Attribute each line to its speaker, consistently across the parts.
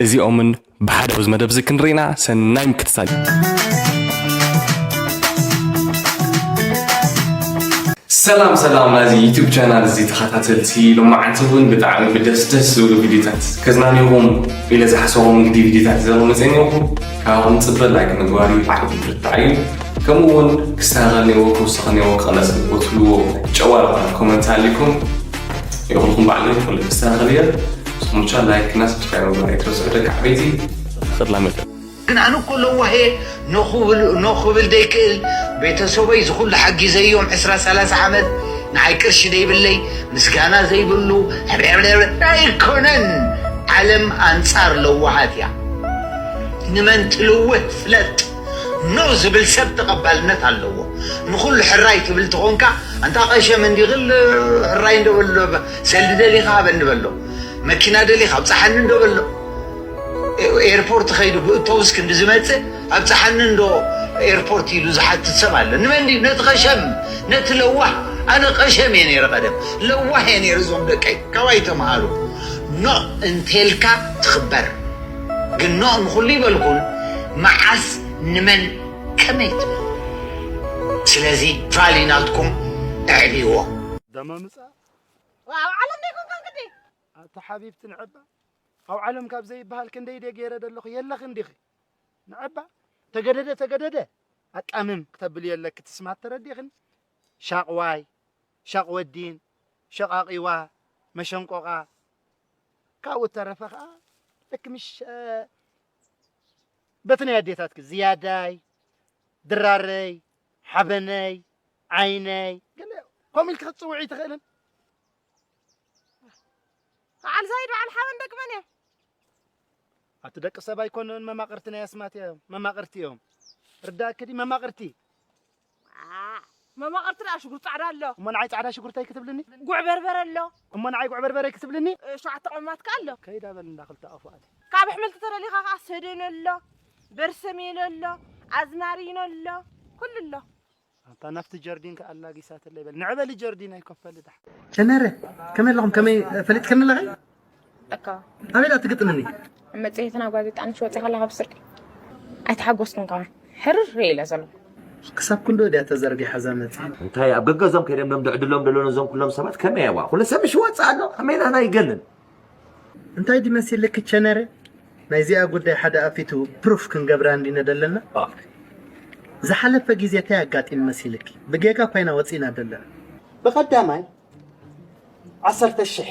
Speaker 1: እዚኦምን ብሓደ ኣብዚ መደብ እዚ ክንርኢና ሰናይ ምክትታል። ሰላም ሰላም ናዚ ዩቱብ ቻናል እዚ ተኸታተልቲ ሎማዓንቲ እውን ብጣዕሚ ብደስ ደስ ዝብሉ ቪድዮታት ከዝናንኹም ኢለ ዝሓሰቦም ንግዲ ቪድዮታት ዘረው መፀኒኹም ካብኹም ፅበ ላይክ ምግባር እዩ ዓቕሚ ብርታዕ እዩ ከምኡ እውን ክስተኻኸል ነዎ ክውስኽ ነዎ ክቕለፅ ነዎ ትብልዎ ጨዋ ዝኾነ ኮመንት ኣሊኩም ይኹንኩም ባዕለይ ኩሉ ክስተኻኸል እየ ሙቻ ላይክ እና ሰብስክራይብ ምግባር ኣይትረስዑ ደቂ ዓበይቲ ኽላ
Speaker 2: መደ ግን ኣነ እኮ ለዋህ እየ ኖ ክብል ደይክእል ቤተሰበይ ዝኩሉ ሓጊዘዮም ዕስራ ሰላሳ ዓመት ንዓይ ቅርሺ ደይብለይ ምስጋና ዘይብሉ ዕብዕብዕብዕ ኣይኮነን ዓለም ኣንጻር ለዋሃት እያ ንመን ትልውህ ፍለጥ ኖ ዝብል ሰብ ተቀባልነት ኣለዎ ንኩሉ ሕራይ ትብል ተኮንካ ኣንታ ቀሸም እንዲ ክል ሕራይ እንዶ በል ሰልዲ ደሊኻ ሃበኒ በሎ፣ መኪና ደሊኻ ኣብጽሓኒ እንዶ በሎ፣ ኤርፖርት ኸይዱ ብእቶብስ ክንዲ ዝመጽእ ኣብጽሓኒ እንዶ ኤርፖርት ኢሉ ዝሓትት ሰብ ኣሎ። ንመን ድዩ? ነቲ ቐሸም፣ ነቲ ለዋህ። ኣነ ቐሸም እየ ነይረ ቐደም፣ ለዋህ እየ ነይረ። እዞም ደቀይ ካባይ ተምሃሩ። ኖእ እንተልካ ትኽበር ግን ኖእ ንኹሉ ይበልኩን መዓስ ንመን ከመይ ትብል ስለዚ ቫሊ ናትኩም ኣዕብይዎ። ደመ
Speaker 3: ምጻእ ኣብ
Speaker 4: ዓለም ዘይኮንካ ግዲ ኣቲ ሓቢብቲ
Speaker 3: ንዕባ ኣብ ዓለም ካብ ዘይበሃል ክንደይ ደ ገይረ ደለኹ የለኽን ዲኺ ንዕባ ተገደደ ተገደደ ኣቃምም ክተብል የለኪ ትስማት ተረዲኽን ሻቕዋይ ሻቕ ወዲን ሸቓቒዋ መሸንቆቓ ካብኡ ተረፈ ከዓ ልክ ምሽ በቲ ናይ ኣዴታትኪ ዝያዳይ ድራረይ ሓበነይ፣ ዓይነይ፣ ገለ ከምኡ ኢልኪ ክትጽውዒ ኣይትኽእልን?
Speaker 4: በዓል ዛይድ በዓል ሓበን ደቂ መን እዮም?
Speaker 3: ኣቲ ደቂ ሰብ ኣይኮኑን መማቕርቲ ናይ ኣስማት እዮም መማቕርቲ እዮም ርዳእክዲ መማቕርቲ
Speaker 4: መማቕርቲ ደኣ ሽጉርቲ ጻዕዳ ኣሎ እሞ ንዓይ ጻዕዳ ሽጉርተይ
Speaker 3: ክትብልኒ ጉዕ በርበረ ኣሎ
Speaker 4: እሞ ንዓይ ጉዕ በርበረ
Speaker 3: ክትብልኒ? ሸውዓተ ቅመማት ከኣ
Speaker 4: ኣሎ። ከይዳ በል እንዳ ክልተ ኣፉ
Speaker 3: ኣቲ። ካብ ኣሕምልቲ ተደሊኻ
Speaker 4: ከኣ ሰደነ ኣሎ፣ በርሰሜሎ ኣሎ፣ ኣዝማሪኖ ኣሎ፣ ኩሉ ኣሎ። ኣታ ናብቲ
Speaker 3: ጀርዲን ከኣ ኣላጊሳትለይ በል። ንዕበሊ ጀርዲን ኣይኮፈሊ ደሓን። ተመረ
Speaker 5: ከመይ ኣለኹም ከመይ ፈሊጥክኒ ኣለኺ
Speaker 6: እካ ኣበይ ትግጥምኒ
Speaker 5: መጽሔትና
Speaker 6: ጋዜጣ ንሽ ወጺ ከላ ካብ ስርቂ ኣይተሓጎስኩን ከማ ሕርር ኢለ ዘሎ ክሳብ ክንዶ
Speaker 5: ድያ ተዘርጊሓ እዛ መጽሔት እንታይ ኣብ ገገዞም
Speaker 7: ከይደም ሎም ድዕድሎም ደሎ ነዞም ኩሎም ሰባት ከመይ ኣዋ ኩሉ ሰብ ምሽ ወፅእ ኣሎ ከመይ ናህና ይገንን
Speaker 5: እንታይ ድመሲልክ ቸነረ ናይዚኣ ጉዳይ ሓደ ኣፊቱ ፕሩፍ ክንገብራ እንዲነ ደለና ዝሓለፈ ግዜ እንታይ ኣጋጢሙ መሲልኪ ብጌጋ ኮይና ወፂና ደለና ብቐዳማይ
Speaker 8: ዓሰርተ ሽሕ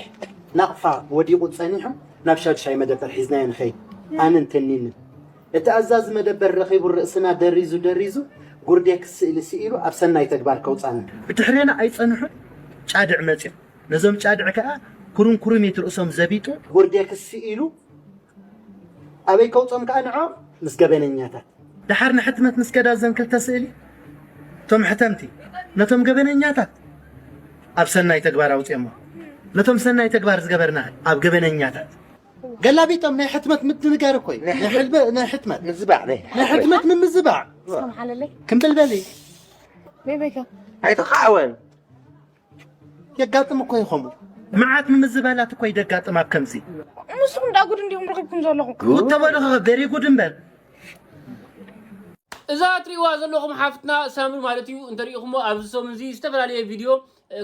Speaker 8: ናቕፋ ወዲቑ ጸኒሑ ናብ ሻዱሻይ መደበር ሒዝናዮ ንኸይድ ኣንን ትኒንን እቲ ኣዛዚ መደበር ረኺቡ ርእስና ደሪዙ ደሪዙ ጉርዴክስ ስእሊ ስኢሉ ኣብ ሰናይ ተግባር ከውጻና ብድሕሬና ኣይጸንሑን
Speaker 5: ጫድዕ መጺኦም ነዞም ጫድዕ ከኣ ኩርምኩርሚት ርእሶም ዘቢጡ ጉርዴክስ ስኢሉ
Speaker 8: ኣበይ ከውጾም ከኣ ንዕኦም ምስ ገበነኛታት። ደሓር ንሕትመት
Speaker 5: ምስ ከዳ እዘን ክልተ ስእሊ እቶም ሕተምቲ ነቶም ገበነኛታት ኣብ ሰናይ ተግባር ኣውፅኦሞ ነቶም ሰናይ ተግባር ዝገበርና ኣብ ገበነኛታት ገላቢጦም ናይ ሕትመት ምድንጋር እኮ እዩ ናይ ሕትመት ምዝባዕ ናይ
Speaker 7: ሕትመት
Speaker 8: ምምዝባዕ
Speaker 6: ክንብልበል እዩ ኣይተኻዕወን
Speaker 7: የጋጥም
Speaker 8: እኮ ይኸሙ መዓት ንምዝበላት
Speaker 5: እኮ ይደጋጥም ኣብ ከምዚ ንስኹም እንዳ ጉድ
Speaker 6: እንዲኹም ረኺብኩም ዘለኹም ጉድ ተበልኸ ቬሪ
Speaker 5: ጉድ እምበር
Speaker 9: እዛ እትሪእዋ ዘለኹም ሓፍትና ሳምሪ ማለት እዩ እንተሪኢኹሞ ኣብዚ ሰሙን እዚ ዝተፈላለየ ቪድዮ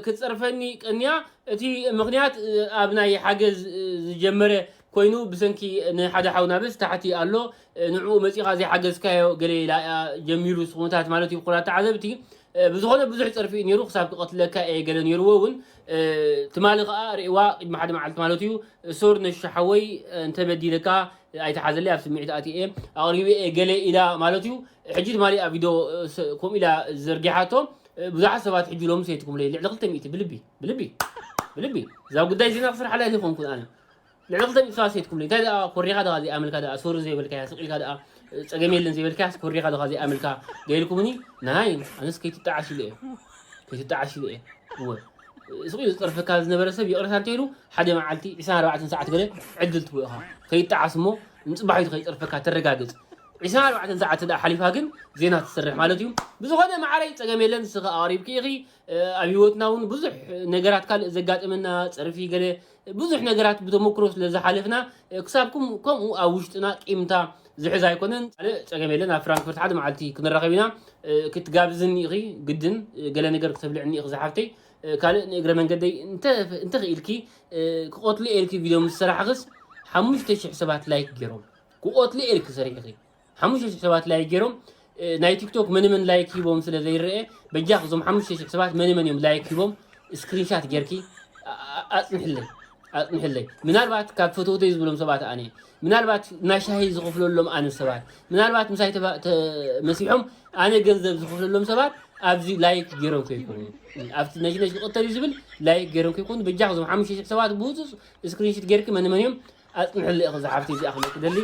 Speaker 9: ክትፅርፈኒ ቀንያ እቲ ምክንያት ኣብ ናይ ሓገዝ ዝጀመረ ኮይኑ ብሰንኪ ንሓደ ሓውና በስ ታሕቲ ኣሎ ንዕኡ መጺኻ ዘይሓገዝካዮ ገለ ኢላ እያ ጀሚሩ ስኹምታት ማለት ይብኩላ ተዓዘብቲ ብዝኾነ ብዙሕ ጸርፊ እዩ ነይሩ ክሳብ ክቐትለካ እየ ገለ ነይርዎ እውን ትማሊ ከዓ ርእዋ ቅድሚ ሓደ መዓልቲ ማለት እዩ ሶር ነሹ ሓወይ እንተበዲለካ ኣይተሓዘለይ ኣብ ስምዒት ኣትየ እየ ኣቕሪበ እየ ገለ ኢላ ማለት እዩ ሕጂ ትማሊ ኣብ ቪድዮ ከምኡ ኢላ ዘርጊሓቶ ብዙሓት ሰባት ሕጂ ሎሚ ሰይትኩምለይ ልዕሊ ክልተ ሚእቲ ብልቢ ብልቢ ብልቢ እዛ ጉዳይ ዜና ክስርሓላ ኣይኮንኩን ኣነ ንዕኡ ክተምጽ ፋስ ኣይትኩብሉይ እንታይ ደኣ ኮሪኻ ደቓ ዘይኣመልካ ደኣ ሶሪ ዘይበልካያ ስቅ ኢልካ ደኣ ጸገም የለን ዘይበልካያስ ኮሪኻ ደኻ ዘይኣመልካ ገይርኩምኒ ናይ ኣነስ ከይትጣዓስ ኢለ እየ ከይትጣዓስ ኢለ እየ እወ ስቅ ኢሉ ዝጸርፈካ ዝነበረ ሰብ ይቕረታ እንተይሉ ሓደ መዓልቲ 24 ሰዓት ገለ ዕድል ትቦ ኢኻ ከይጣዓስ እሞ ንጽባሒቱ ከይጸርፈካ ተረጋግጽ 24 ሰዓት እንተ ሓሊፋ ግን ዜና ትሰርሕ ማለት እዩ ብዝኾነ መዓረይ ጸገም የለን ንስኺ ኣቕሪብኪ ኢኺ ኣብ ህይወትና እውን ብዙሕ ነገራት ካልእ ዘጋጥመና ጸርፊ ገለ ብዙሕ ነገራት ብተመክሮ ስለ ዝሓለፍና ክሳብ ከምኡ ኣብ ውሽጥና ቂምታ ዝሕዝ ኣይኮነን። ጸገም የለን ኣብ ፍራንክፈርት ሓደ መዓልቲ ክንራኸብ ኢና። ክትጋብዝኒ ኢኺ ግድን ገለ ነገር ክተብልዕኒ ኢኺ ዝሓፍተይ። ካልእ ንእግረ መንገደይ እንተኽኢልኪ ክቆትሉ እየ ኢልኪ ቪድዮ ምስ ሰራሕኽስ ሓሙሽተ ሽሕ ሰባት ላይክ ጌሮም ክቆትሉ እየ ኢልኪ ሰሪሕኺ። ሓሙሽተ ሽሕ ሰባት ላይክ ጌሮም ናይ ቲክቶክ መንመን ላይክ ሂቦም ስለ ዘይረኤ በጃኽ እዞም ሓሙሽተ ሽሕ ሰባት መንመን እዮም ላይክ ሂቦም ስክሪንሻት ጌርኪ ኣጽንሕለይ ኣጽንሕለይ ምናልባት ካብ ፈተውተይ ዝብሎም ሰባት ኣነ ምናልባት ናይ ሻሂ ዝኽፍለሎም ኣነ ሰባት ምናልባት ምሳይ መሲሖም ኣነ ገንዘብ ዝኽፍለሎም ሰባት ኣብዚ ላይክ ጌሮም ከይኮኑ ኣብቲ ነሽነሽ ክቕተል እዩ ዝብል ላይክ ጌሮም ከይኮኑ በጃኽ እዞም ሓሙሽተ ሽሕ ሰባት ብውፁፅ ስክሪንሽት ጌርኪ መንመን እዮም ኣጽንሕለይ ኢኺ እዛ ሓፍተይ እዚኣ ክብለኪ ደሊ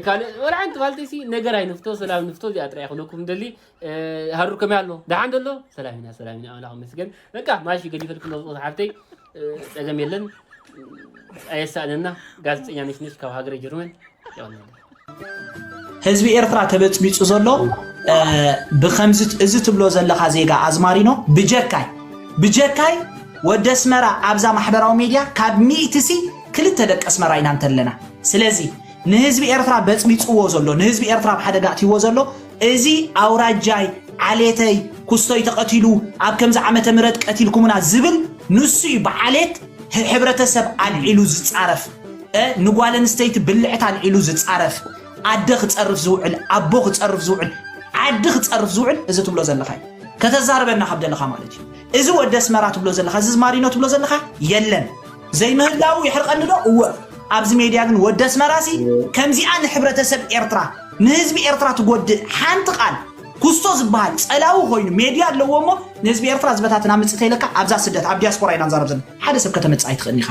Speaker 9: ካልእ ወላ ሓንቲ ፋልተይሲ ነገር ኣይንፍቶ ሰላም ንፍቶ እዚኣ ጥራይ ክብለኩም ደሊ ሃሩር ከመይ ኣሎ ደሓን ደሎ ሰላም ኢና ሰላም ኢና ኣምላኽ ይመስገን በቃ ማሺ ገዲፈልክሎ ዝቕት ሓፍተይ ጸገም የለን ኣየሳእነና ጋዜጠኛ ነሽነሽ ካብ ሃገረ ጀርመን ይቕንለ
Speaker 10: ህዝቢ ኤርትራ ተበጽቢጹ ዘሎ ብከምዚ እዚ ትብሎ ዘለካ ዜጋ ኣዝማሪኖ ብጀካይ ብጀካይ ወደ ኣስመራ ኣብዛ ማሕበራዊ ሚድያ ካብ ሚእቲ ሲ ክልተ ደቂ ኣስመራ ኢና እንተለና ስለዚ ንህዝቢ ኤርትራ በጽቢጽዎ ዘሎ ንህዝቢ ኤርትራ ኣብ ሓደጋ እትይዎ ዘሎ እዚ ኣውራጃይ ዓሌተይ ኩስቶይ ተቀቲሉ ኣብ ከምዚ ዓመተ ምህረት ቀቲልኩሙና ዝብል ንሱ እዩ ብዓሌት ሕብረተሰብ ኣልዒሉ ዝጻረፍ ንጓል ኣንስተይቲ ብልዕት ኣልዒሉ ዝጻረፍ ኣደ ክጸርፍ ዝውዕል ኣቦ ክጸርፍ ዝውዕል ዓዲ ክጸርፍ ዝውዕል እዚ ትብሎ ዘለኻ እዩ ከተዛርበና ካብ ደለኻ ማለት እዩ እዚ ወደ ኣስመራ ትብሎ ዘለኻ እዚ ዝማሪኖ ትብሎ ዘለኻ የለን ዘይምህላዉ የሕርቀኒ ዶ እወ ኣብዚ ሜድያ ግን ወዲ ኣስመራሲ ከምዚኣ ንሕብረተሰብ ኤርትራ ንህዝቢ ኤርትራ ትጎድእ ሓንቲ ቃል ኩስቶ ዝበሃል ጸላዊ ኮይኑ ሜድያ ኣለዎ እሞ ንህዝቢ ኤርትራ ዝበታትን ኣምጽእ ተይለካ ኣብዛ ስደት ኣብ ዲያስፖራ ኢና ንዛረብ ዘለና ሓደ ሰብ ከተመጽእ ኣይትኽእልን ኢኻ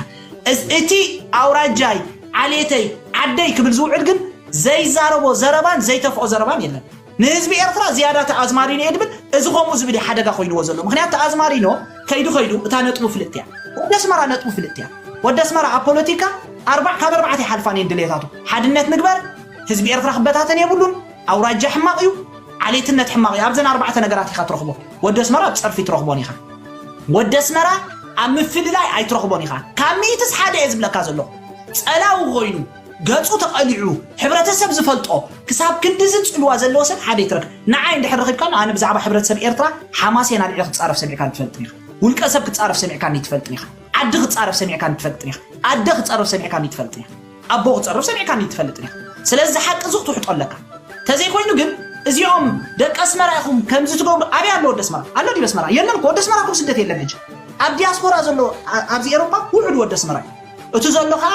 Speaker 10: እቲ ኣውራጃይ ዓሌተይ ዓደይ ክብል ዝውዕል ግን ዘይዛረቦ ዘረባን ዘይተፍኦ ዘረባን የለን ንህዝቢ ኤርትራ ዝያዳ ተኣዝማሪኖ እየ ድብል እዚ ከምኡ ዝብል እዩ ሓደጋ ኮይንዎ ዘሎ ምክንያት ተኣዝማሪኖ ከይዱ ከይዱ እታ ነጥቡ ፍልጥቲ እያ ወዲ ኣስመራ ነጥቡ ፍልጥቲ እያ ወዲ ኣስመራ ኣብ ፖለቲካ ኣርባዕ ካብ ኣርባዕተ ይሓልፋን እየን ድሌታቱ ሓድነት ንግበር ህዝቢ ኤርትራ ክበታተን የብሉን ኣውራጃ ሕማቕ እዩ ዓሌትነት ሕማቕ እዩ ኣብዘን ኣርባዕተ ነገራት ኢኻ ትረኽቦ ወዲ ኣስመራ ኣብ ጸርፊ ትረኽቦን ኢኻ ወዲ ኣስመራ ኣብ ምፍልላይ ኣይትረኽቦን ኢኻ ካብ ሚእትስ ሓደ እየ ዝብለካ ዘለኹ ጸላዊ ኮይኑ ገጹ ተቐሊዑ ሕብረተሰብ ዝፈልጦ ክሳብ ክንድዚ ጽልዋ ዘለዎ ሰብ ሓደ ይትረፍ ንዓይ እንድሕር ረኺብካኒ ኣነ ብዛዕባ ሕብረተሰብ ኤርትራ ሓማሴን ኣልዒለ ክጻረፍ ሰሚዕካኒ ትፈልጥን ኢኻ ውልቀ ሰብ ክጻረፍ ሰሚዕካኒ ትፈልጥን ኢኻ ዓዲ ክጻረፍ ሰሚዕካኒ ትፈልጥን ኢኻ ኣደ ክጸርፍ ሰሚዕካኒ ትፈልጥን ኢኻ ኣቦ ክጸርፍ ሰሚዕካኒ ትፈልጥን ኢኻ ስለዚ ሓቂ እዚ ክትውሕጦ ኣለካ ተዘይኮይኑ ግን እዚኦም ደቂ ኣስመራ ኢኹም ከምዚ ትገብሩ ኣበይ ኣሎ ወዲ ኣስመራ ኣሎ ዲበ ኣስመራ የለን እኮ ወዲ ኣስመራ እኮ ስደት የለን ሕጂ ኣብ ዲያስፖራ ዘሎ ኣብዚ ኤሮፓ ውሑድ ወዲ ኣስመራ እዩ እቲ ዘሎ ከዓ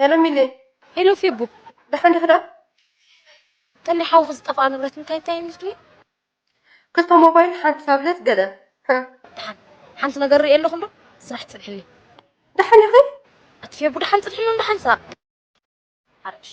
Speaker 4: ሄሎ ሚሊ ሄሎ ፌቡ ደሓን ዲኺ ደኣ ተኒ ሓውኺ ዝጠፍኣ ንብረት እንታይ እንታይ እዩ ዝድልዩ ክልተ ሞባይል ሓንቲ ታብለት ገለ ደሓን ሓንቲ ነገር ርእየ ኣለኹ እምበር ስራሕ ፅንሕኒ ደሓን ኢኺ ኣቲ ፌቡ ደሓን ፅንሕኒ እንዶ ሓንሳእ ሓረሽ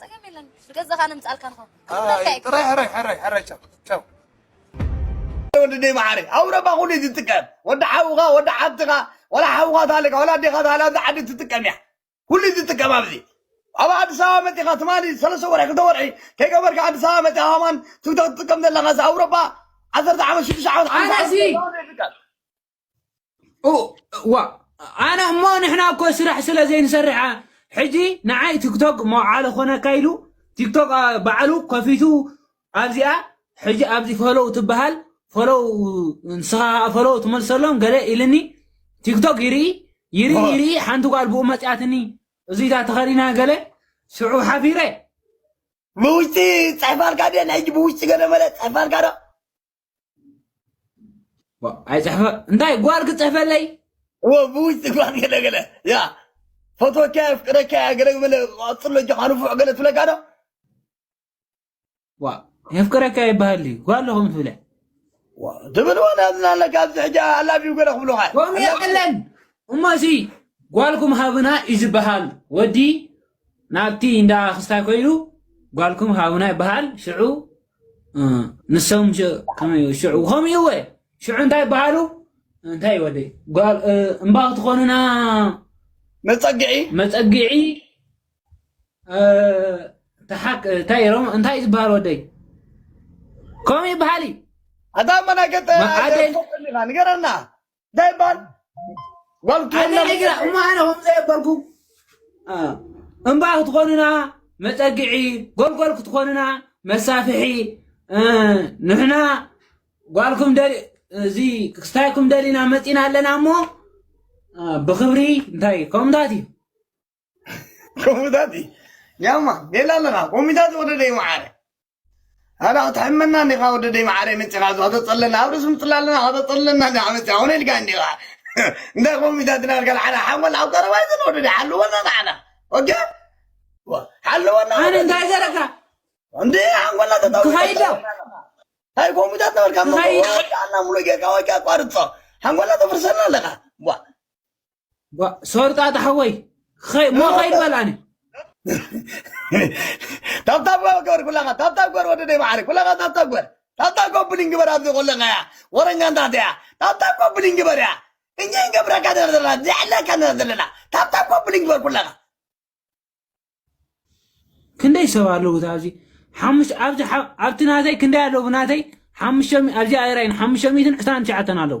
Speaker 4: ጸገም የለን ንገዛኻ
Speaker 11: ነምጻልካ ንኸ ጥራይ ሕራይ ሕራይ
Speaker 7: ሕራይ ቻው ቻው ወድደይ መዓረይ ኣውረባ ኩሉ እዩ ዝጥቀም ወዲ ሓውኻ ወዲ ሓብትኻ ዋላ ሓውኻ ታለካ ዋላ ኣዴኻ ታለ ኣብዚ ዓዲ ትጥቀም እያ ኩሉ እዩ ዝጥቀም ኣብዚ ኣብ ኣዲስ ኣበባ መፂኻ ትማሊ ሰለስተ ወርሒ ክልተ ወርሒ ከይገበርካ ኣዲስ ኣበባ መፂኻ ከማን ትክቶክ ትጥቀም ዘለኻ እዚ ኣውሮፓ ዓሰርተ ዓመት ሽዱሽተ ዓመት ሓምሳ ዓመት ኣነሲ- ይጥቀም
Speaker 9: ዋ ኣነ እሞ ንሕና እኮ ስራሕ ስለ ዘይንሰርሕ ሕጂ ንዓይ ቲክቶክ መውዓለ ኮነካ ኢሉ ቲክቶክ ባዕሉ ከፊቱ ኣብዚኣ ሕጂ ኣብዚ ፈለው ትበሃል ፈለው ንስኻ ፈለው ትመልሰሎም ገለ ኢልኒ ቲክቶክ ይርኢ ይርኢ ይርኢ ሓንቲ ጓል ብኡ መፅያትኒ እዚታ ተኸዲና ገለ ሽዑ ሓፊረ ብውሽጢ
Speaker 7: ፀሕፋልካ ድየ ናይ ሕጂ ብውሽጢ ገለ መለ ፀሕፋልካ ዶ
Speaker 9: ኣይፅሕፈ እንታይ ጓል ክፅሕፈለይ ብውሽጢ ጓል
Speaker 7: ገለገለ ያ ፈትወካ የፍቅረካ እያ ገለገለ ቀፅሎ ጆካ ንፉዕ ገለ ትብለካ ዶ
Speaker 9: ዋ የፍቅረካ ይበሃል እዩ ጓል ኣለኹም ትብለ ትብል
Speaker 7: ወላ ዝናለ ካብዚ ሕጂ ኣላብዩ ገለ ክብሉካ ከምኡ የለን
Speaker 9: እሞ እዚ ጓልኩም ሃብና እዩ ዝበሃል ወዲ ናብቲ እንዳ ክስታይ ኮይኑ ጓልኩም ሃብና ይበሃል ሽዑ ንሶም ከመይ ሽዑ ከምኡ እወ ሽዑ እንታይ ይበሃሉ እንታይ ወደ እምባ ክትኾኑና መፀግዒ መፀግዒ ተሓክ እንታይ ሮም እንታይ ዝበሃል ወደይ ከምኡ ይበሃል እዩ ኣታ
Speaker 7: መናገጠ ንገረና እንታይ ይበሃል ጓልትወላ ግራ እሞ
Speaker 9: ኣነ ከም ዘየበልኩ እምባ ክትኾኑና መፀግዒ ጎልጎል ክትኾኑና መሳፍሒ ንሕና ጓልኩም እዚ ክስታይኩም ደሊና መፂና ኣለና እሞ ብክብሪ እንታይ ከምታት እዩ ኮሙታት
Speaker 7: ያማ ሌላ ኣለኻ ኮሚታት ወደደይ መዓረ ኣላ ክትሕመና እንዲኻ ወደደይ መዓረ መፂኻ ዝ ከተፀለና ኣብ ርእሲ ምፅላ ኣለና ከተፀለና እንዲ ዓመፅ ኮነ ኢልካ እንዲኻ እንታይ ኮሚታት ናልካ ንዓና ሓንጎል ኣብ ቀረባ ይዘን ወደደ ሓልወና ንዓና ኦኬ ሓልወና ኣነ እንታይ ዘረካ
Speaker 9: እንዲ
Speaker 7: ሓንጎላ ተታውይዶ
Speaker 9: ታይ
Speaker 7: ኮሚታት ነበርካ ምሉእ ጌርካ ወይ ኣቋርፆ ሓንጎላ ተፍርሰልና ኣለኻ ጓ-
Speaker 9: ሶርጣጣ ሓወይ ኸይ- እሞ ኸይድ በል ኣነ
Speaker 7: ታብታብ ገበር ኩላኻ ታብታብ ገበር ወዲ ደይ ማዕረ ኩላኻ ታብታብ ገበር ታብታብ ኮምፕሊን ግበር ኣብዚ ኮለኻ እያ ወረኛ እንታት እያ ታብታብ ኮምፕሊን ግበር እያ እኛ ይገብረካ ነር ዘለና ዘዕለካ ነር ዘለና ታብታብ ኮምፕሊን ግበር ኩላኻ
Speaker 9: ክንደይ ሰብ ኣለዉ እታ ኣብዚ ሓሙሽ ኣብዚ ሓ- ኣብቲ ናተይ ክንደይ ኣለዉ ናተይ ሓሙሽተ ሚ- ኣብዚ ኣይራይን ሓሙሽተ ሚእትን ዕስራን ትሽዓተን ኣለዉ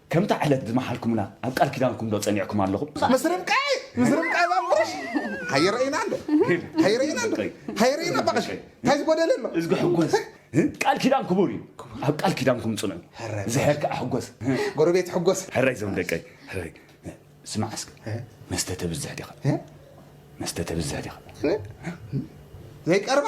Speaker 12: ከምታ ዕለት ዝመሓልኩምና ኣብ ቃል ኪዳንኩም ዶ ጸኒዕኩም ኣለኹም? ምስ ርብቃይ
Speaker 13: ምስ ርብቃይ ባቁሽ ሃየ ረኢና እንዶ ሃየ ረኢና እንዶ ሃየ ረኢና ባቁሽ እንታይ ዝጎደለ ኣሎ እዝጊ ሕጎስ
Speaker 12: ቃል ኪዳን ክቡር እዩ ኣብ ቃል ኪዳንኩም ጽንዑ ዝሕር ከዓ ሕጎስ ጎረቤት ሕጎስ
Speaker 13: ሕራይ ዘም ደቀይ
Speaker 12: ሕራይ ስማዕ እስከ መስተ ተብዝሕ ዲኻ መስተ ተብዝሕ ዲኻ
Speaker 13: ዘይቀርባ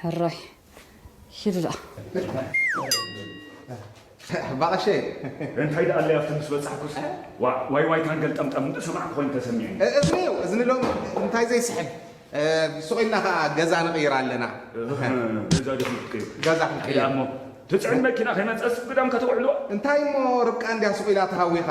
Speaker 13: ሕራይ
Speaker 4: ኪድ ደኣ
Speaker 13: ባቐሸይ። እንታይ
Speaker 12: ደኣ ኣለይ ኣብቲ ምስ በጻሕኩስ ዋእ ዋይዋይታን ገልጠምጠምን እናሰማዕኩ ኮይኑ ተሰሚዑኒ። እዝኒ'ዩ እዝኒ ሎሚ
Speaker 13: እንታይ ዘይስሕብ። ሱቕ ኢልና ከኣ ገዛ ንቕይር ኣለና። ገዛ ዶ ክንቅይር? ገዛ ክንቅይር። ኣይ ደኣ'ሞ
Speaker 12: ትጽዕን መኪና ከይመጸስ ግዳም ከተውዕልዋ። እንታይ እሞ
Speaker 13: ርብቃ እንድያ ሱቕ ኢላ ተሃዊኻ።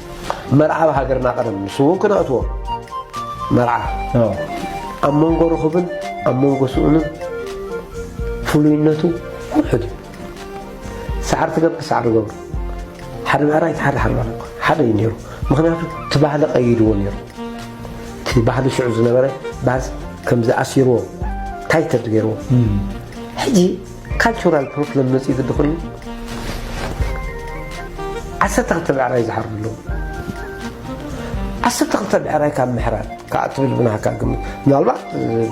Speaker 14: መርዓ ኣብ ሃገርና ቀደም ንሱ እውን ክነእትዎ መርዓ ኣብ መንጎ ርኽብን ኣብ መንጎ ስኡንን ፍሉይነቱ ውሑድ እዩ ሰዓር ትገብር ሰዓር ገብሩ ሓደ ምዕራይ ሓደ ሓደ ሓደ እዩ ነይሩ ምክንያቱ እቲ ባህሊ ቀይድዎ ነይሩ እቲ ባህሊ ሽዑ ዝነበረ ባህል ከምዚ ኣሲርዎ ታይተድ ገይርዎ ሕጂ ካልቸራል ፕሮፕለም መፅዩ ግዲ ኮይኑ ዓሰርተ ክልተ ብዕራይ ዝሓርዱ ኣለዉ ዓሰርተ ክልተ ብዕራይ ካብ ምሕራድ ከዓ ትብል ብናሃካ ግምት ምናልባት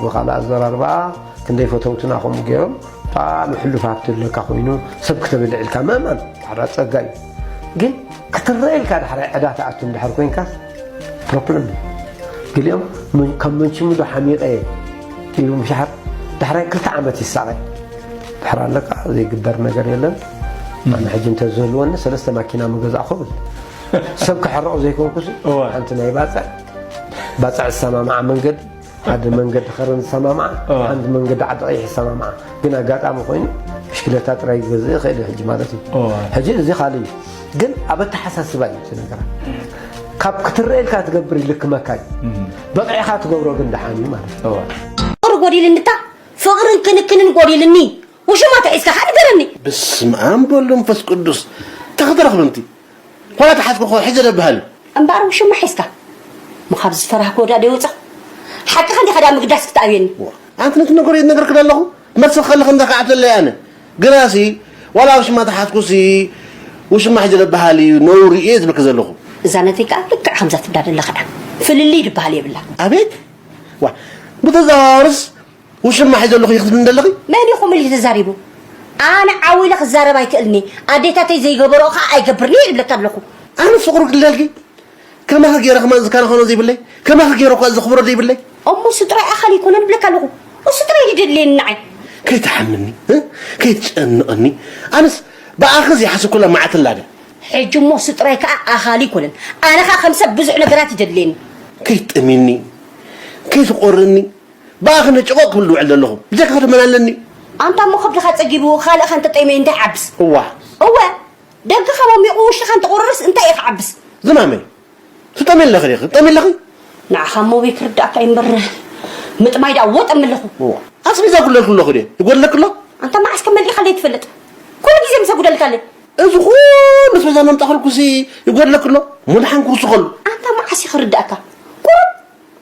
Speaker 14: ብካልእ ኣዘራርባ ክንደይ ፈተውትና ከምኡ ገይሮም ብጣዕሚ ሕሉፍ ሃብቲ ኣለካ ኮይኑ ሰብ ክተበልዕ ኢልካ ምእማን ሓራ ፀጋ እዩ ግን ክትረአ ኢልካ ዳሕራይ ዕዳ ትኣቱ እንድሕር ኮንካስ ፕሮፕለን ገሊኦም ካብ መንሽሙዶ ሓሚቐ ኢሉ ምሻሓር ዳሕራይ ክልተ ዓመት ይሳቐ ድሕር ኣለቃ ዘይግበር ነገር የለን ኣነ ሕጂ እንተዝህልወኒ ሰለስተ ማኪና ምገዛእኹ ብል ሰብ ክሕረቕ ዘይኮንኩስ ሓንቲ ናይ ባፅዕ ባፅዕ ዝሰማምዓ መንገዲ ሓደ መንገዲ ከረን ዝሰማምዓ ሓንቲ መንገዲ ዓዲ ቀይሕ ዝሰማምዓ ግን ኣጋጣሚ ኮይኑ ብሽክለታ ጥራይ ዝገዝእ ይኽእል ሕጂ ማለት እዩ ሕጂ እዚ ካልእ እዩ ግን ኣብ ኣተሓሳስባ እዩ እቲ ነገራ ካብ ክትረኤልካ ትገብር ይልክመካ እዩ በቂዕኻ ትገብሮ ግን ደሓን እዩ ማለት እዩ ፍቅሪ
Speaker 4: ጎዲልኒ እታ ፍቅርን ክንክንን ጎዲልኒ ውሽማ ተሒዝካ ከ ንገረኒ ብስም ኣም
Speaker 15: በሉ መንፈስ ቅዱስ እንታይ ክትረኽብንቲ ኳላ ተሓፍርኾ ሕዚ ደብሃሉ። እምበኣር ውሽማ
Speaker 4: ሒዝካ እሞ ካብዚ ዝፈራህክዎ ድኣ ዶ ይወጻ ሓቅኻ እንዲኻ ድኣ ምግዳስ ክትኣብየኒ። እዋ ኣንቲ ነቲ ነገር
Speaker 15: ይነግርኪ ደለኹ መልሲ ክኸልኽ እንዳ ከዓብተለይ ኣነ ግናሲ ዋላ ውሽማ ተሓዝኩሲ ውሽማ ሕጂ ደብሃል እዩ ነውሪ እየ ዝብልኪ ዘለኹ። እዛ ነተይ ከኣ ልክዕ
Speaker 4: ከምዛ ትብላ ደለኻ እያ ፍልልይ ድብሃል የብላ። ኣቤት
Speaker 15: ዋ ብተዘዋዋርስ ውሽማ ሒዘልኹ ኢኺ ትብልኒ ዘለኺ? መን እዩ ከምኡ ኢሉ ተዛሪቡ?
Speaker 4: ኣነ ዓው ኢለ ክዛረብ ኣይክእልን እየ፣ ኣዴታተይ ዘይገበርኦ ከኣ ኣይገብርን እየ ይብለኪ ኣለኹ። ኣነ ፍቕሩ ክልለልኪ
Speaker 15: ከማኺ ገይረ ከማን ዝከናኸኖ ዘይብለይ፣ ከማኺ ገይረ እኳ ዘኽብሮ ዘይብለይ። እሞ ስድራይ ኣኻል
Speaker 4: ኣይኮነን ይብለኪ ኣለኹ። ስድራይ ድዩ ዘድልየኒ ንዓይ? ከይትሓምኒ፣
Speaker 15: ከይትጨንቐኒ፣ ኣነስ ብኣኺ ዘይሓሰብኩላ መዓልቲ ኣላ ድያ? ሕጂ እሞ
Speaker 4: ስድራይ ከኣ ኣኻል ኣይኮነን፣ ኣነ ከኣ ከም ሰብ ብዙሕ ነገራት እዩ ዘድልየኒ። ከይትጠምይኒ፣
Speaker 15: ከይትቖርኒ። ብኣ ክንደይ ጭቖቕ ክብል ዝውዕል ዘለኹ ብጀካ ከቶ መን ኣለኒ። ኣንታ እሞ ከብድኻ
Speaker 4: ጸጊቡ ኻልእኻ እንተጠይመ እንታይ ይዓብስ። እዋ። እወ ደገኻ ሞሚቑ ውሽጥኻ እንተቑርርስ እንታይ እዩ ክዓብስ። ዝማመይ
Speaker 15: ትጠምይ ኣለኺ ዲኺ ትጠምይ ኣለኺ። ንዓኻ እሞ እበይ
Speaker 4: ክርድኣካ እዩ እምበር ምጥማይ ደኣ ወጥ እምል ኣለኹ። እዋ ኣስቤዛ ይጉድለልኪ
Speaker 15: ኣለኹ ድየ ይጎድለኪ ኣሎ። ኣንታ መዓስ ከ መሊእኻለይ
Speaker 4: ትፈልጥ ኩሉ ግዜ ምሰ ጉደልካ ኣለይ። እዚ ኩሉ
Speaker 15: ኣስቤዛ እናምጻእኽልኩሲ ይጎድለኪ ኣሎ እሞ ደሓን ክውስኸሉ። ኣንታ መዓስ እዩ
Speaker 4: ክርድኣካ ቁሩብ።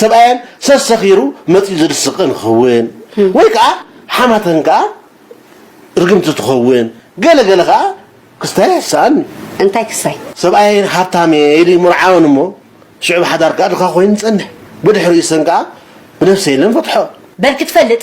Speaker 15: ሰብኣየን ሰሰኺሩ መጺኡ ዝድስቕን ክኽውን ወይ ከኣ ሓማተን ከኣ ርግምቲ ትኸውን ገለ ገለ ከኣ ክስታይ ኣይሕሰኣን እዩ። እንታይ ክሳይ?
Speaker 4: ሰብኣየን ሃብታም
Speaker 15: እየ ኢሉ ይምርዓወን እሞ ሽዑ ብ ሓዳር ከኣ ድኻ ኮይኑ ይጸንሕ ብድሕሪኡ ሰን ከኣ ብነብሰይ ኢለ ንፈትሖ። በልኪ ትፈልጥ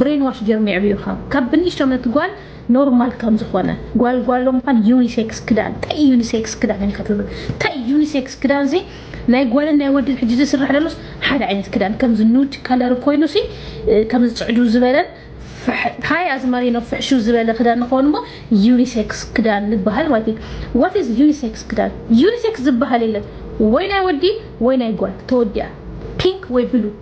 Speaker 4: ብሬን ዋሽ ጌሮም የዕብዩኻ ካብ ብንእሽቶነት ጓል ኖርማል ከም ዝኾነ ጓል ጓሎ ምዃን ዩኒሴክስ ክዳን ታይ እዩ ዩኒሴክስ ክዳን ኢልካ ትብል ታይ እዩ ዩኒሴክስ ክዳን ሲ ናይ ጓልን ናይ ወድን ሕጂ ዝስራሕ ዘሎስ ሓደ ዓይነት ክዳን ከምዚ ኑድ ከለር ኮይኑ ሲ ከምዚ ጽዕዱ ዝበለን ታይ ኣዝማሪ ነው ፍሕሹ ዝበለ ክዳን ንኸውን እሞ ዩኒሴክስ ክዳን ንበሃል ማለት እዩ ዋት ኢዝ ዩኒሴክስ ክዳን ዩኒሴክስ ዝበሃል የለን ወይ ናይ ወዲ ወይ ናይ ጓል ተወዲኣ ፒንክ ወይ ብሉ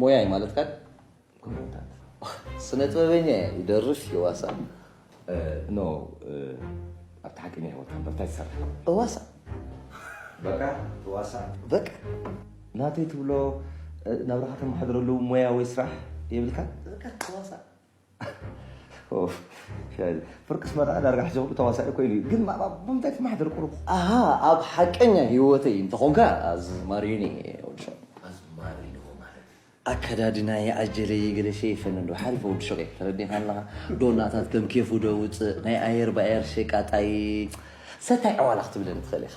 Speaker 16: ሞያ እዩ ማለት ካል ስነ ጥበበኛ እየ ይደርፍ ይዋሳ
Speaker 17: ኖ ኣብቲ ሓቂ ናይ ህይወት ከበር እንታይ ትሰርሕ እዋሳ በቃ ዋሳ በቃ
Speaker 16: ናተይ
Speaker 17: ትብሎ ናብራኻ ተመሓድረሉ ሞያ ወይ ስራሕ የብልካ በቃ ዋሳ ፍርቂ ስመራ ዳርጋ ሕጂ ኩሉ ተዋሳኢ ኮይኑ እዩ ግን ብምንታይ ትመሓደር ቁሩብ ኣሃ ኣብ
Speaker 16: ሓቀኛ ሂወተይ እንተኾንካ ኣዝማሪኒ ወድሸ ኣዝማሪኒ
Speaker 17: ማለት ኣከዳድና
Speaker 16: ይኣጀለ ይገለ ሸይፈን እንዶ ሓሪፈ ወዲ ሸቀ ተረዲኻ ኣለኻ ዶናታት ከም ኬፉ ዶ ውፅእ ናይ ኣየር ብኣየር ሸቃጣይ ሰታይ ዕዋላ ክትብለኒ ትኽእል ኢኻ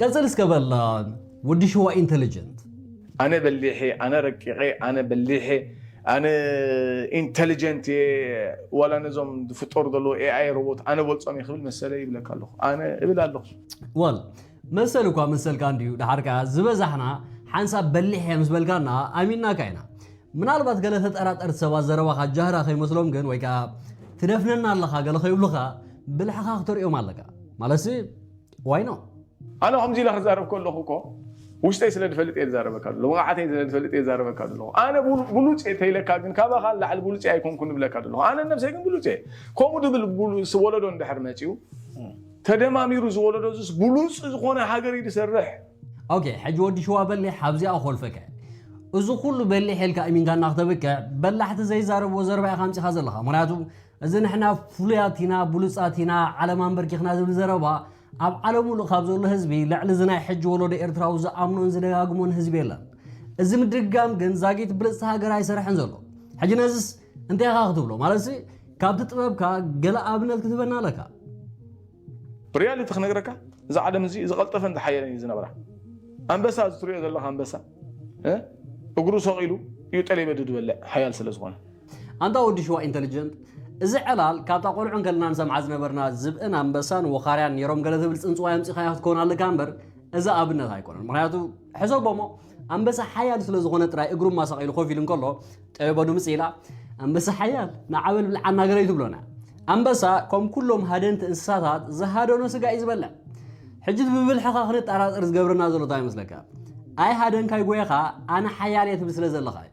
Speaker 9: ቀጽል እስከ በል ወዲ ሽዋ ኢንተሊጀንት። ኣነ በሊሕ
Speaker 18: እየ ኣነ ረቂቅ እየ ኣነ በሊሕ እየ ኣነ ኢንተሊጀንት እየ ዋላ ነዞም ዝፍጠሩ ዘለዉ ኤኣይ ሮቦት ኣነ በልጾም እየ ክብል መሰለይ ይብለካ ኣለኹ ኣነ እብል ኣለኹ። ወል
Speaker 9: መሰል እኳ መሰልካ እንድዩ ደሓር ከኣ ዝበዛሕና ሓንሳብ በሊሕ እየ ምስ በልካና ኣሚንናካ ኢና ምናልባት ገለ ተጠራጠርቲ ሰባት ዘረባኻ ጃህራ ከይመስሎም ግን ወይ ከኣ ትደፍነና ኣለኻ ገለ ከይብሉኻ ብልሕኻ ክተርእዮም ኣለካ ማለትሲ ዋይ ኖት? ኣነ ከምዚ ኢለ
Speaker 18: ክዛረብ ከለኹ እኮ ውሽጠይ ስለ ዝፈልጥ እየ ዝዛረበካ ዘሎ ብቕዓተይ ስለ ዝፈልጥ እየ ዝዛረበካ ዘለኹ ኣነ ብሉጽ እየ ተይለካ ግን ካባኻ ንላዕሊ ብሉጽ እየ ኣይኮንኩን እብለካ ዘለኹ ኣነ ነብሰይ ግን ብሉጽ እየ ከምኡ ድብል ብሉጽ ወለዶ እንድሕር መጺኡ ተደማሚሩ እዚ ወለዶ እዚስ ብሉጽ ዝኾነ ሃገር እዩ ዝሰርሕ ኦኬ ሕጂ
Speaker 9: ወዲ ሽዋ በሊሕ ኣብዚኣ ኮልፈከ እዚ ኩሉ በሊሕ ኢልካ እሚንካ እናክተብክዕ በላሕቲ ዘይዛረብዎ ዘረባ ኢኻ ኣምጺኻ ዘለኻ ምክንያቱ እዚ ንሕና ፍሉያት ኢና፣ ብሉጻት ኢና፣ ዓለም ኣምበርኪኽና ዝብል ዘረባ፣ ኣብ ዓለም ምሉእ ካብ ዘሎ ህዝቢ፣ ልዕሊ እዚ ናይ ሕጂ ወለዶ ኤርትራዊ ዝኣምኖን ዝደጋግሞን ህዝቢ የለን። እዚ ምድግጋም ግን ዛጊት ብልጽቲ ሃገር ኣይሰርሕን ዘሎ። ሕጂ ነዝስ እንታይ ኢኻ ክትብሎ? ማለትሲ ካብቲ ጥበብካ ገለ ኣብነት ክትህበና ኣለካ። ብሪያሊቲ
Speaker 18: ክነግረካ እዚ ዓለም እዚ ዝቀልጠፈን ዝሓየለን እዩ ዝነብራ ኣንበሳ እዚ ትሪኦ ዘለካ ኣንበሳ እግሩ ሰቂሉ እዩ ጠሌበዱ ዝበልዕ ሓያል ስለ ዝኮነ ኣንታ ወዲ
Speaker 19: ሽዋ ኢንተልጀንት እዚ ዕላል ካብታ ቆልዑ እንከለና ንሰምዓ ዝነበርና ዝብእን ኣንበሳን ወኻርያን ኔሮም ገለ ትብል ጽንጽዋይ ኣምጺኻያ ክትከውን ኣለካ እምበር እዚ ኣብነት ኣይኮነን ምክንያቱ ሕሰቦሞ ኣንበሳ ሓያል ስለ ዝኾነ ጥራይ እግሩ ማሳቂሉ ኮፍ ኢሉ እንከሎ ጠበቦ ድምጽ ኢላ ኣንበሳ ሓያል ንዓበል ብልዓና ገለዩ ትብሎና ኣንበሳ ከም ኩሎም ሃደንቲ እንስሳታት ዝሃደኖ ስጋ እዩ ዝበልዕ ሕጂ ብብልሕኻ ክንጠራጠር ዝገብረና ዘሎ እንታይ ይመስለካ ኣይ ሃደንካይ ጎየኻ ኣነ ሓያል እየ ትብል ስለ ዘለኻ እዩ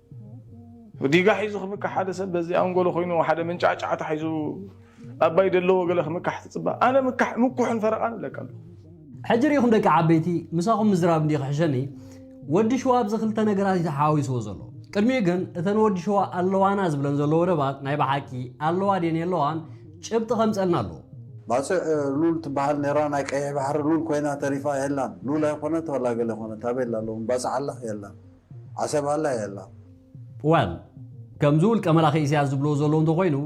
Speaker 18: ዲጋ ሒዙ ክምካሕ ሓደ ሰብ በዚ ኣንጎሎ ኮይኑ ሓደ መንጫዕጫዕታ ሒዙ ኣባይ ደለዎ ገለ ክምካሕ ትጽባ ኣነ ምካሕ ምኩሕን ፈረቃን እብለካ ኣለኹ። ሕጂ ሪኢኹም
Speaker 19: ደቂ ዓበይቲ ምሳኹም ምዝራብ እንድዩ ክሕሸኒ ወዲ ሽዋ ኣብዚ ክልተ ነገራት እዩ ተሓዋዊስዎ ዘሎ ቅድሚኡ ግን እተን ወዲ ሽዋ ኣለዋና ዝብለን ዘሎ ወደባት ናይ ብሓቂ ኣለዋ ድየን የለዋን ጭብጢ ከምጸልና ኣለዎ። ባጽዕ
Speaker 20: ሉል ትበሃል ኔራ ናይ ቀይሕ ባሕሪ ሉል ኮይና ተሪፋ የላን ሉል ኣይኮነት ዋላ ገለ ኮነት ኣበይ ኣላ ሎሚ ባጽዕ ኣላ የላን። ዓሰብ ኣላ የላ። Well
Speaker 19: ከምዚ ውልቀ መላኺ ኢሰያስ ዝብልዎ ዘለዉ እንተኾይኑ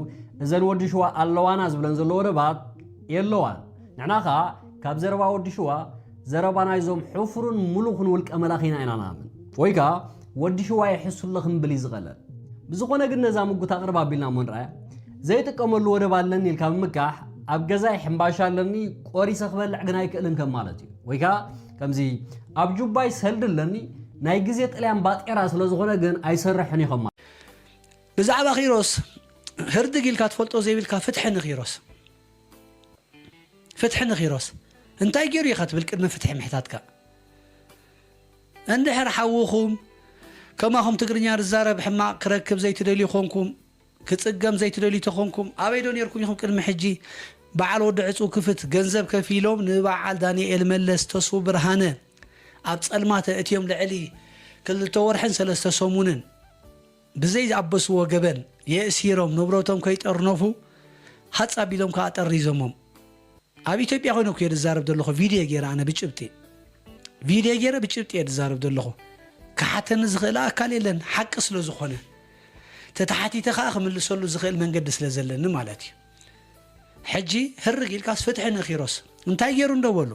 Speaker 19: እዘን ወዲ ሽዋ ኣለዋና ዝብለን ዘሎ ወደባት የለዋን ንሕና ከኣ ካብ ዘረባ ወዲ ሽዋ ዘረባ ናይዞም ሕፉርን ሙሉኽን ውልቀ መላኺና ኢና ንኣምን ወይ ከኣ ወዲ ሽዋ ይሕሱለ ክንብል እዩ ዝቐለል ብዝኾነ ግን ነዛ ምጉት ኣቕርብ ኣቢልና እሞ ንርኣያ ዘይጥቀመሉ ወደብ ኣለኒ ኢልካ ምምካሕ ኣብ ገዛይ ሕምባሻ ኣለኒ ቆሪሰ ክበልዕ ግን ኣይክእልን ከም ማለት እዩ ወይ ከኣ ከምዚ ኣብ ጁባይ ሰልዲ ኣለኒ ናይ ግዜ ጥልያን ባጤራ ስለ ዝኾነ ግን ኣይሰርሕን ኢዩ ከማን። ብዛዕባ
Speaker 5: ኪሮስ ህርድግ ኢልካ ትፈልጦ ዘይብልካ ፍትሒ ንኪሮስ ፍትሒ ንኪሮስ እንታይ ጌሩ ኢኻ ትብል ቅድሚ ፍትሒ ምሕታትካ እንድሕር ሓውኹም ከማኹም ትግርኛ ዝዛረብ ሕማቕ ክረክብ ዘይትደልዩ ኮንኩም ክጽገም ዘይትደልዩ ተኮንኩም ኣበይ ዶ ኔርኩም ኢኩም ቅድሚ ሕጂ በዓል ወዲ ዕጹው ክፍት ገንዘብ ከፊሎም ንበዓል ዳኒኤል መለስ ተስፉ ብርሃነ ኣብ ጸልማት ኣእትዮም ልዕሊ ክልተ ወርሕን ሰለስተ ሰሙንን ብዘይ ዝኣበስዎ ገበን የእሲሮም ንብረቶም ከይጠርነፉ ሃጽ ኣቢሎም ከኣ ጠሪዞሞም ኣብ ኢትዮጵያ ኮይነ እኮ እየ ዝዛረብ ዘለኹ ቪድዮ ገይረ ኣነ ብጭብጢ ቪድዮ ገይረ ብጭብጢ እየ ዝዛረብ ዘለኹ ክሓተኒ ዝኽእል ኣካል የለን ሓቂ ስለ ዝኾነ ተተሓቲተ ከኣ ክምልሰሉ ዝኽእል መንገዲ ስለ ዘለኒ ማለት እዩ። ሕጂ ህርግ ኢልካስ ፍትሒ ንኪሮስ እንታይ ጌሩ እንዶ በሉ?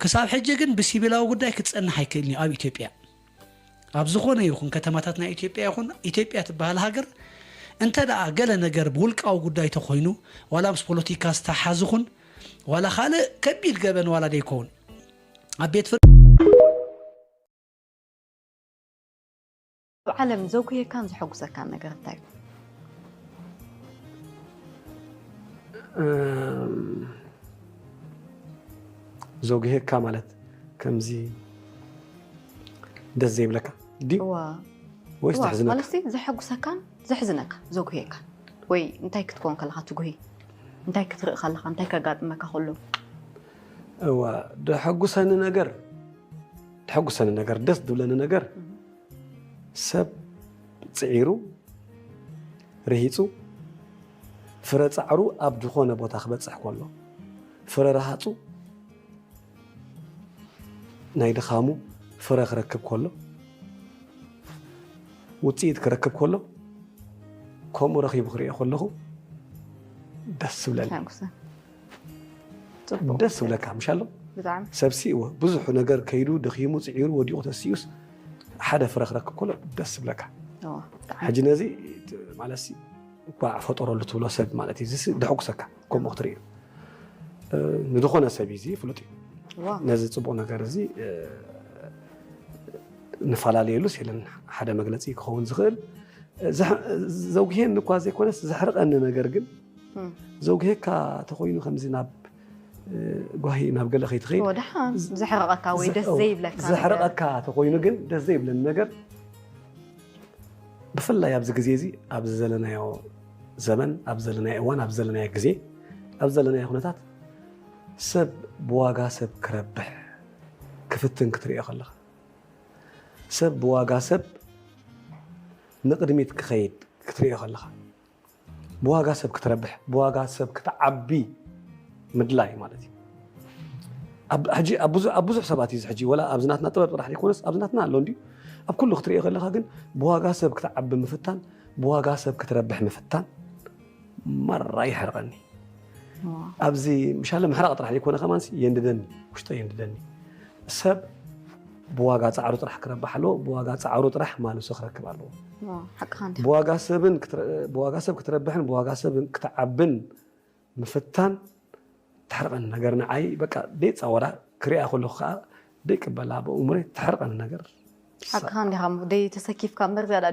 Speaker 5: ክሳብ ሕጂ ግን ብሲቪላዊ ጉዳይ ክጸንሕ ኣይክእልን እዩ ኣብ ኢትዮጵያ ኣብ ዝኾነ ይኹን ከተማታት ናይ ኢትዮጵያ ይኹን ኢትዮጵያ ትበሃል ሃገር እንተ ደኣ ገለ ነገር ብውልቃዊ ጉዳይ ተኾይኑ ዋላ ምስ ፖለቲካ ዝተሓሓዝ ይኹን ዋላ ካልእ ከቢድ ገበን ዋላ ደይኮውን ኣብ ቤት ፍርዲ
Speaker 21: ኣብ ዓለም ዘጉህየካን ዘሐጉሰካን ነገር እንታይ
Speaker 22: እዩ? ዘጉህየካ ማለት ከምዚ ደስ ዘይብለካ ድዩ ወይስ ዘሕዝነካ? ማለት ዘሐጉሰካን
Speaker 21: ዘሕዝነካ ዘጉህየካ ወይ እንታይ ክትከውን ከለካ ትጉህይ እንታይ ክትርኢ ከለካ እንታይ ከጋጥመካ ከሎ እዋ
Speaker 22: ዘሐጉሰኒ ነገር ተሐጉሰኒ ነገር ደስ ዝብለኒ ነገር ሰብ ፅዒሩ ርሂፁ ፍረ ፃዕሩ ኣብ ዝኾነ ቦታ ክበፅሕ ከሎ ፍረ ረሃፁ ናይ ድኻሙ ፍረ ክረክብ ከሎ ውፅኢት ክረክብ ከሎ ከምኡ ረኺቡ ክሪኦ ከለኹ ደስ ዝብለኒ ተሐጉሰ ፅቡቕ ደስ ዝብለካ ምሽ ኣሎ ብጣዕሚ ሰብሲ እወ
Speaker 21: ብዙሕ
Speaker 22: ነገር ከይዱ ደኺሙ ፅዒሩ ወዲቑ ተሲኡስ ሓደ ፍረ ክረክብ ከሎ ደስ ዝብለካ እወ፣ ብጣዕሚ ሕጂ ነዚ እቲ ማለት ሲ እኳ ፈጠረሉ ትብሎ ሰብ ማለት እዩ እዚሲ ደሕጉሰካ ከምኡ ክትርኢ እዩ እ፣ ንዝኾነ ሰብ እዩ እዚ ፍሉጥ እዩ እወ፣ ነዚ ፅቡቕ ነገር እዚ እ፣ ንፈላለየሉስ የለን ሓደ መግለፂ ክኸውን ዝኽእል እ፣ ዘሕ- ዘጉህየኒ እኳ ዘይኮነስ ዘሕርቐኒ ነገር ግን ዘውግሔካ ተኾይኑ ከምዚ ናብ ጓሂ ናብ ገለ ከይትኸይድ ወድሓን ዘሕረቐካ
Speaker 21: ወይ ደስ ዘይብለካ ዘሕረቐካ ተኾይኑ
Speaker 22: ግን ደስ ዘይብለኒ ነገር ብፍላይ ኣብዚ ግዜ እዚ ኣብዚ ዘለናዮ ዘመን ኣብ ዘለናዮ እዋን ኣብ ዘለናዮ ግዜ ኣብ ዘለናዮ ኩነታት ሰብ ብዋጋ ሰብ ክረብሕ ክፍትን ክትሪኦ ከለኻ ሰብ ብዋጋ ሰብ ንቅድሚት ክኸይድ ክትሪኦ ከለኻ ብዋጋ ሰብ ክትረብሕ ብዋጋ ሰብ ክትዓቢ ምድላይ ማለት እዩ ሕጂ ኣብ ብዙሕ ሰባት እዩ ሕጂ ወላ ኣብዚ ናትና ጥበብ ጥራሕ ዘይኮነስ ኣብዚ ናትና ኣሎ እንዲዩ ኣብ ኩሉ ክትሪኦ ከለካ ግን ብዋጋ ሰብ ክትዓቢ ምፍታን ብዋጋ ሰብ ክትረብሕ ምፍታን ማራ ይሕርቐኒ ኣብዚ ምሻለ ምሕራቕ ጥራሕ ዘይኮነ ከማንሲ የንድደኒ ውሽጠ የንድደኒ ሰብ ብዋጋ ፃዕሩ ጥራሕ ክረብሕ ኣለዎ፣ ብዋጋ ፃዕሩ ጥራሕ ማልሱ ክረክብ ኣለዎ። ብዋጋ ሰብ ክትረብሕን ብዋጋ ሰብ ክትዓብን ምፍታን ተሕርቐኒ ነገር ንዓይ በቃ ደይፃወራ ክሪኣ ከለኹ ከዓ ደይቅበላ ብእሙረይ ተሕርቐኒ ነገር ሓቅኻ እንዲኻ
Speaker 21: እሞ ደይተሰኪፍካ እምበር ዝያዳ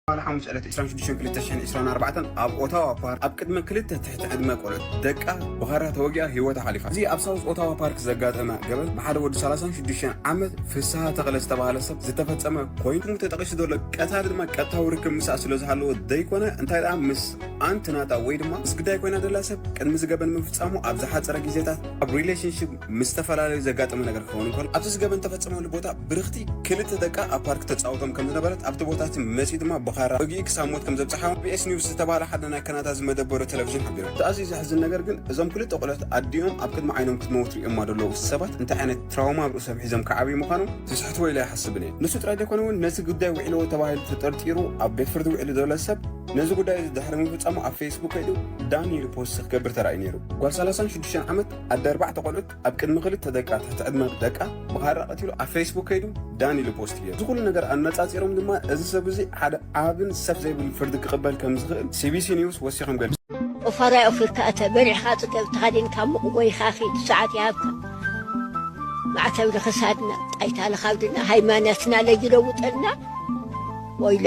Speaker 1: ትማሊ ሓሙስ ዕለት 26/2024 ኣብ ኦታዋ ፓርክ ኣብ ቅድሚ ክልተ ትሕቲ ዕድመ ቆልዑት ደቃ ብኻራ ተወጊኣ ህይወታ ሓሊፋ። እዚ ኣብ ሳውዝ ኦታዋ ፓርክ ዘጋጠመ ገበን ብሓደ ወዲ 36 ዓመት ፍስሃ ተኽለ ዝተባህለ ሰብ ዝተፈጸመ ኮይኑ ስሙ ተጠቒሱ ዘሎ ቀታሊ ድማ ቀጥታዊ ርክብ ምስኣ ስለዝሃለዎ ዘይኮነ እንታይ ደኣ ምስ ኣንት ናታ ወይ ድማ ምስ ግዳይ ኮይና ዘላ ሰብ ቅድሚ እዚ ገበን ምፍጻሙ ኣብ ዝሓጸረ ግዜታት ኣብ ሪሌሽንሺፕ ምስ ዝተፈላለዩ ዘጋጠመ ነገር ክኸውን እንከሎ ኣብቲ ዝገበን ተፈጸመሉ ቦታ ብርኽቲ ክልተ ደቃ ኣብ ፓርክ ተጻውቶም ከም ዝነበረት ኣብቲ ቦታ እቲ መጺኡ ድማ ብኻራ ወጊኡ ክሳብ ሞት ከም ዘብጽሓ ቢኤስ ኒውስ ዝተባህለ ሓደ ናይ ካናዳ ዝመደበሩ ቴሌቪዥን ሓቢሩ። እቲ ኣዝዩ ዘሕዝን ነገር ግን እዞም ክልተ ቆልዑት ኣዲኦም ኣብ ቅድሚ ዓይኖም ክትመውት ርእዮማ ዘለዉ ሰባት እንታይ ዓይነት ትራውማ ኣብ ርእሶም ሒዞም ክዓብዩ ምዃኖም ዝስሕትዎ ኢለ ኣይሓስብን እየ። ንሱ ጥራይ ዘይኮነ እውን ነቲ ጉዳይ ውዒልዎ ተባሂሉ ተጠርጢሩ ኣብ ቤት ፍርዲ ውዒሉ ዘሎ ሰብ ነዚ ጉዳይ እዚ ድሕሪ ምፍጻሙ ኣብ ፌስቡክ ከይዱ ዳኒ ኢሉ ፖስት ክገብር ተራእዩ ነይሩ። ጓል ሰላሳን ሽዱሽተን ዓመት ኣደ ኣርባዕተ ቆልዑት ኣብ ቅድሚ ክልተ ደቃ ትሕቲ ዕድመ ደቃ ብኻራ ቀቲሉ ኣብ ፌስቡክ ከይዱ ዳኒ ኢሉ ፖስት ገይሩ። እዚ ኩሉ ነገር ኣነጻጺሮም ድማ እዚ ሰብ እዚ ሓደ ዓብን ሰፍ ዘይብልን ፍርዲ ክቕበል ከም ዝኽእል ሲቢሲ ኒውስ ወሲኾም ገሊጾም። ኦፋራይ ኦፊርካ
Speaker 23: እተ በሪሕካ ጽገብ ተኸዲንካ ሙቕ ጎይኻ ኺድ ሰዓት ይሃብካ ማዕተብ ንኽሳድና ጣይታ ንኻብድና ሃይማኖትና ለይለውጠልና ወይለ